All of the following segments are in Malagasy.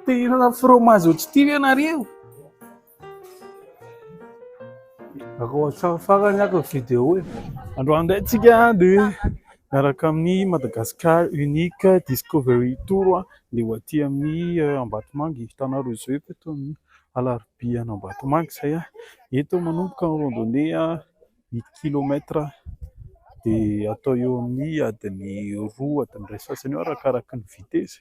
Te hihinana fromage otr'ity ve nareo? Raha farany ako vidéo e. Androany indray tsika dia miaraka amin'ny Madagascar Unique Discovery Tour dia ho aty amin'ny eh, Ambatomanga hitanareo izao eto eto amin'ny alarobia an'Ambatomanga izay ah. Eto manomboka ny randonnée ah, huit kilomètres dia atao eo amin'ny adiny roa, adiny iray sasany eo arakaraka ny vitesse.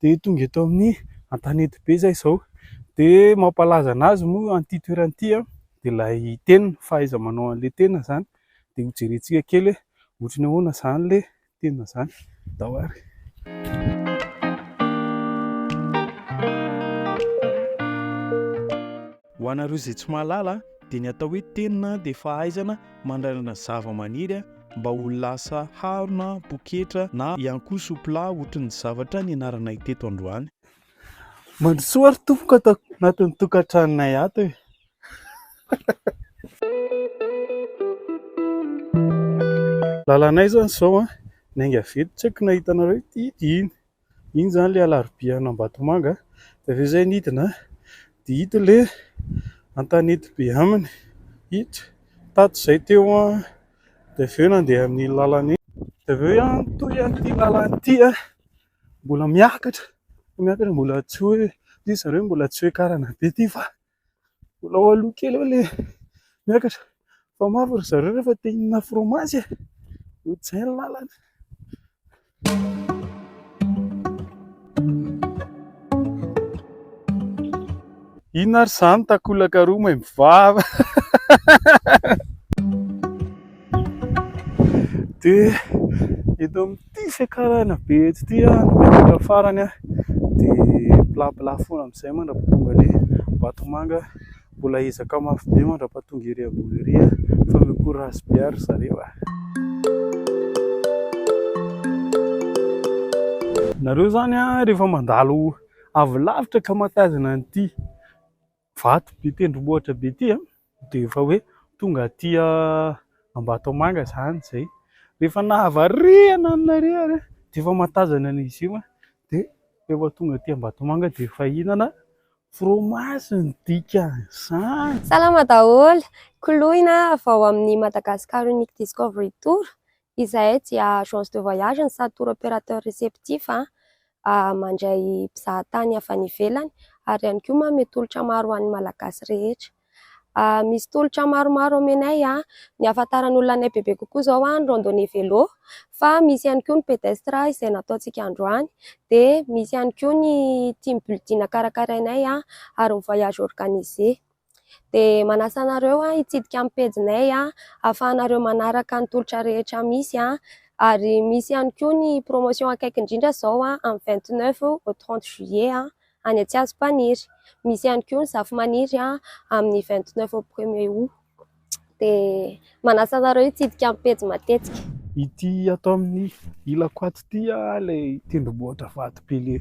dia tonga eto amin'ny Antanety be izahay izao. Dia mampalaza an'azy moa an'ity toerana ity dia ilay teniny, fahaiza-manao an'ilay tena izany. Dia ho jerentsika kely hoe ohatra ny ahoana izany ilay tena izany. Andao ary. Ho anareo izay tsy mahalala dia ny atao hoe tenona dia fahaizana mandrarana zavamaniry mba ho lasa harona, poketra na ihany koa soupla ohatry ny zavatra nianaranay teto androany. Mandrosoa ry tompoko ato anatin'ny tokantranonay ato e! Lalanay izany izao an, niainga avy eto tsy haiko na hitanareo ity, iny. iny izany ilay alarobia any Ambatomanga dia avy eo izay nidina dia hita ilay an-tanety be aminy hiditra tato izay teo dia avy eo nandeha amin'iny lalana iny dia avy eo ihany nitohy an'ity lalana ity mbola miakatra miakatra mbola tsy hoe ity zareo mbola tsy hoe karana be ity fa Mbola ao aloha kely eo le miakatra fa mafy ry zareo rehefa te hinana fromazy e. Ohatr'izay ny lalana. Inona ary izany takolaka roa may mivava. Dia eto amin'ny ity fiakarana be eto ity aho no miakatra farany an, dia blabla foana amin'izay mandrapahatonga an'i Ambatomanga, mbola hiezaka mafy be mandrapahatonga ery ambony ery aho fa omeo courage be ary zareo a. Nareo zany an rehefa mandalo avy lavitra ka mahatazana an'ity. Vato be tendrombohitra be ity dia efa hoe tonga aty Ambatomanga izany izay. Rehefa nahavariana ny nare ary dia efa mahatazana an'izy io dia efa tonga aty Ambatomanga dia efa hihinana fromazy ny dikan'izany. Salama daholo, koloina avy ao amin'ny Madagascar Unique Discovery Tour Izahay dia agence de voyage no sady tour operateur receptif mandray mpizahatany avy any ivelany ary ihany koa manome tolotra maro ho an'ny Malagasy rehetra. Misy tolotra maromaro omenay, ny ahafantaran'olona anay bebe kokoa izao ny randonnée vélo fa misy ihany koa ny pedestre izay nataontsika androany dia misy ihany koa ny team building karakarainay ary ny voyage organisé. dia manasa anareo hitsidika amin'ny pejinay hahafahanareo manaraka ny tolotra rehetra misy ary misy ihany koa ny promotion akaiky indrindra izao amin'ny vingt neuf au trente juillet any Antsiazompaniry. Misy ihany koa ny zafimaniry amin'ny vingt neuf au premier aout dia manasa anareo hitsidika amin'ny pejy matetika. Ity ato amin'ny ilako ato ity ilay tendrombohitra vato be ilay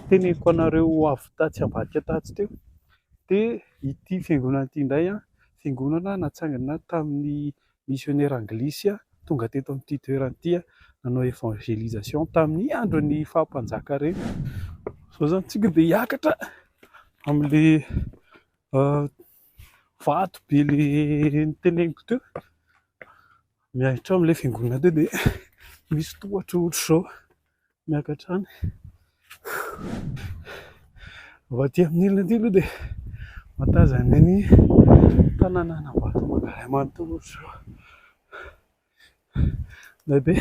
teneniko anareo avy tatsy ambadika tatsy teo. Dia ity fiangonana ity indray, fiangonana natsangana tamin'ny misionera anglisy tonga teto amin'ity toerana ity, nanao évangélisation tamin'ny andron'ny faha mpanjakareny. Izao izany isika dia hiakatra amin'ilay vato be ilay noteneniko teo, miakatra amin'ilay fiangonana teo dia misy tohatra ohatr'izao. Miaka hatrany. Vao aty amin'ny ilany aty aloha dia mahatazana ny tananan'Ambatomanga iray manontolo ohatr' izao. Milay be.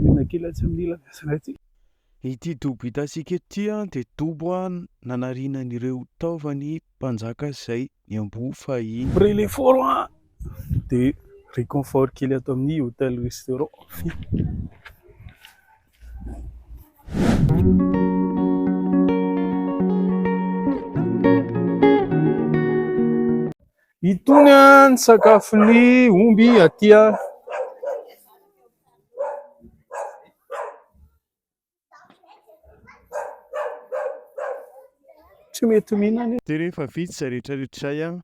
Mila kely atsy amin'ny ilany hazanay aty. Ity dobo hitantsika ity dia dobo nanariana an'ireo taovan'i mpanjaka izay niamboho fahiny. Après l'effort a dia réconfort kely ato amin'ny hotel restaurant. Itony ny sakafon'ny omby aty. Tsy mety mihinana io. Dia rehefa vita izay rehetrarehetra izay an,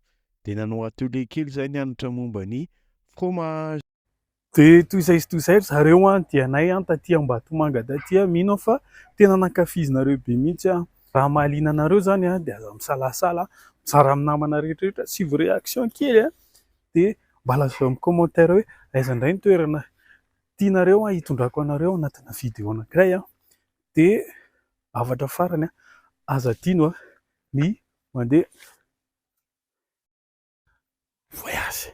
dia nanao atelier kely izahay nianatra momba ny fromage. Dia toy izay sy toy izay ry zareo an, dia anay an taty Ambatomanga taty an, mino aho fa tena nankafizinareo be mihitsy an. Raha mahaliana anareo izany an, dia aza misalasala an, mizara amin'ny namana rehetrarehetra, asivo réaction kely an, dia mba lazao amin'ny commentaire hoe aiza indray ny toerana. tianareo an hitondrako anareo anatina video anankiray an dia avatra farany an aza adino an ny mandeha voyage